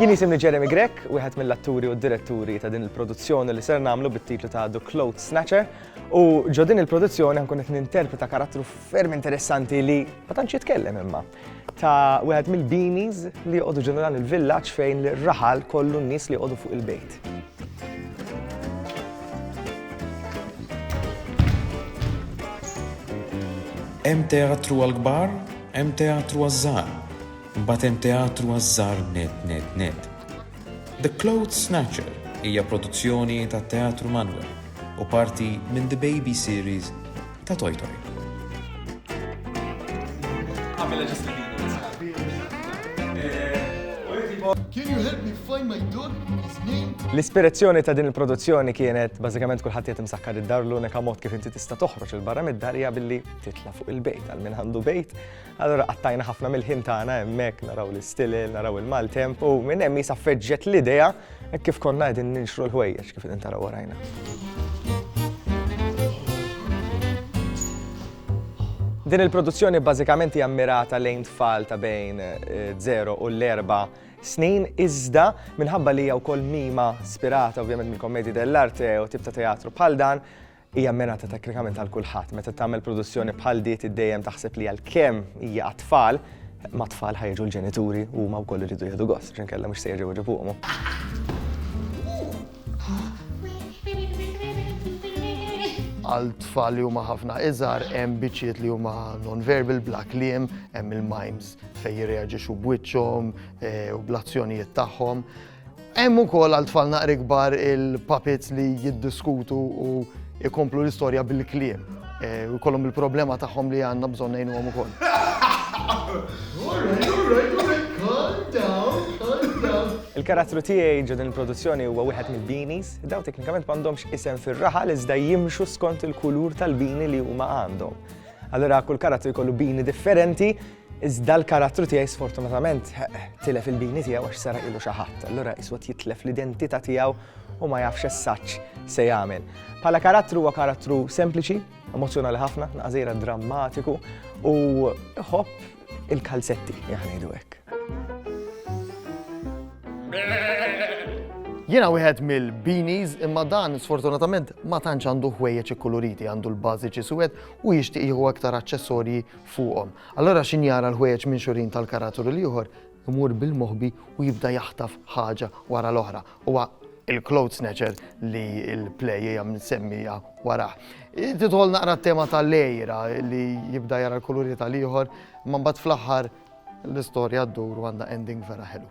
Jien jisimni Jeremy Grek, wieħed mill-atturi u d-diretturi ta' din il-produzzjoni li ser nagħmlu bit-titlu ta' The Cloth Snatcher. U ġo din il-produzzjoni nkun qed ninterpreta karattru ferm interessanti li ma tantx jitkellem imma ta' wieħed mill-beanies li joqogħdu ġeneral il-villaġġ fejn l-raħal kollu n-nies li joqogħdu fuq il-bejt. Hemm teatru għall-kbar, hemm teatru għaż-żgħar, imbagħad hemm teatru għaż-żgħar net net net. The Clothes Snatcher hija produzzjoni tat-Teatru Manwel u parti minn The Baby Series ta' Toy Toy. L-ispirazzjoni ta' din il-produzzjoni kienet bażikament kulħadd qed imsakkar id-dar l-unika mod kif inti tista' toħroġ il barra mid-dar hija billi titla' fuq il-bejt għal min għandu bejt. Allura qattajna ħafna mill-ħin tagħna hemmhekk naraw l-istilel, naraw il-maltemp u minn hemm jisa feġġet l-idea Hekk kif konna qegħdin ninxru l-ħwejjeġ kif qegħdin taraw warajna. Din il-produzzjoni bażikament hija mmirata lejn tfal ta' bejn 0 eh, u l-4 snin iżda minħabba li hija wkoll mima spirata ovvjament mill-kommedi dell'arte u tip ta' teatru bħal dan Hija mmirata teknikament għal kulħadd. Meta tagħmel produzzjoni bħal di trid dejjem taħseb li għalkemm hija għat-tfal, ma' tfal ħajġu l-ġenituri u huma wkoll iridu jieħdu gost, xinkella mhux se jerġgħu jġibuhom. Għal tfal li huma ħafna iżgħar hemm biċċiet li huma non-verbal bla kliem, hemm il-mimes fejn jirreaġixxu b'wiċċhom eh, u bl-azzjonijiet tagħhom. Hemm ukoll għal tfal naqri kbar il-puppets li jiddiskutu u jkomplu l-istorja bil-kliem. Eh, u jkollhom il-problema tagħhom li għandna bżonn ngħinuhom ukoll. Il-karattru tiegħi ġo din il-produzzjoni huwa wieħed mill-beanies, daw teknikament m'għandhomx isem fir-raħal iżda jimxu skont il-kulur tal-bini li huma għandhom. Allura kull karattru jkollu bini differenti Iżda l-karattru tiegħi sfortunatament tilef il-bini tiegħu għax sara ilu xi ħadd, allura iswed jitlef l-identità tiegħu u ma jafx essaċ se jagħmel. Bħala karattru huwa karattru sempliċi, emozjonali ħafna, naqżira drammatiku u ħobb il-kalzetti, jaħnidu hekk. Jiena wieħed mill-beanies imma dan sfortunatament ma tantx għandu ħwejjeġ ikkuluriti għandu l-bażiċi suwed u jixtieq jieħu aktar aċċessorji fuqhom. Allura x'in jara l-ħwejjeġ minxurin tal-karatur il-ieħor imur bil-moħbi u jibda jaħtaf ħaġa wara l-oħra. Huwa il-cloth snatcher li l-play hija msemmija warah. Tidħol naqra t-tema tal-lejra li jibda jara l-kuluri tal-ieħor, imma mbagħad fl-aħħar l-istorja ddur u għandha ending vera ħelu.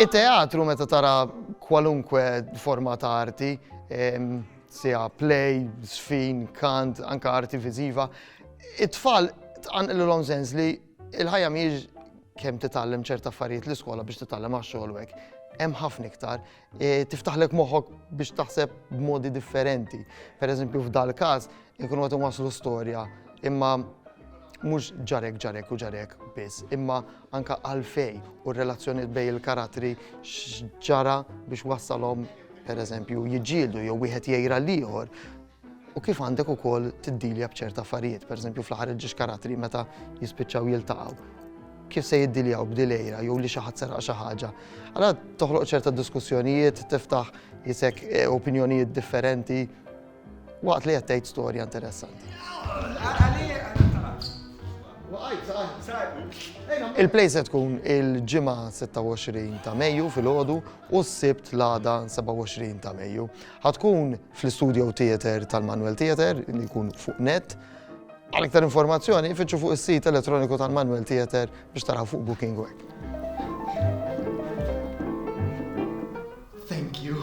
It-teatru meta tara kwalunkwe forma ta' arti Siegħa play, żfin, kant, anke arti viżiva. It-tfal tqanqililhom sens li l-ħajja mhijiex kemm titgħallem ċerta affarijiet l-iskola biex titgħallem għax-xogħol hekk. Hemm ħafna iktar. E, tiftaħlek moħħok biex taħseb b'modi differenti. Per eżempju, f'dal każ, ikun għat waslu storja, imma mhux ġarek ġarek u ġarek biss, imma anke għalfejn u r-relazzjonijiet bejn il-karattri x'ġara biex wassalhom pereżempju jiġġieldu jew wieħed jgħir għall-ieħor u kif għandek ukoll tiddilja b'ċerta affarijiet, pereżempju fl-aħħar il-ġiex karattri meta jispiċċaw jiltaqgħu kif se jiddiljaw b'dilejra jew li xi ħadd seraq xi ħaġa. Allora toħloq ċerta diskussjonijiet, tiftaħ jisek eh, opinjonijiet differenti Waqt li qed tgħid storja interessanti. Il-play se tkun il-ġimgħa 26 ta' Mejju fil-ħodu u s-sibt l-għada 27 ta' Mejju. Ħatkun fl-Studio Theater tal-Manuel Theater, li jkun fuq net. Għal iktar informazzjoni, fittxu fuq is-sit elettroniku tal-Manuel Theater biex taraw fuq Booking Web. Thank you.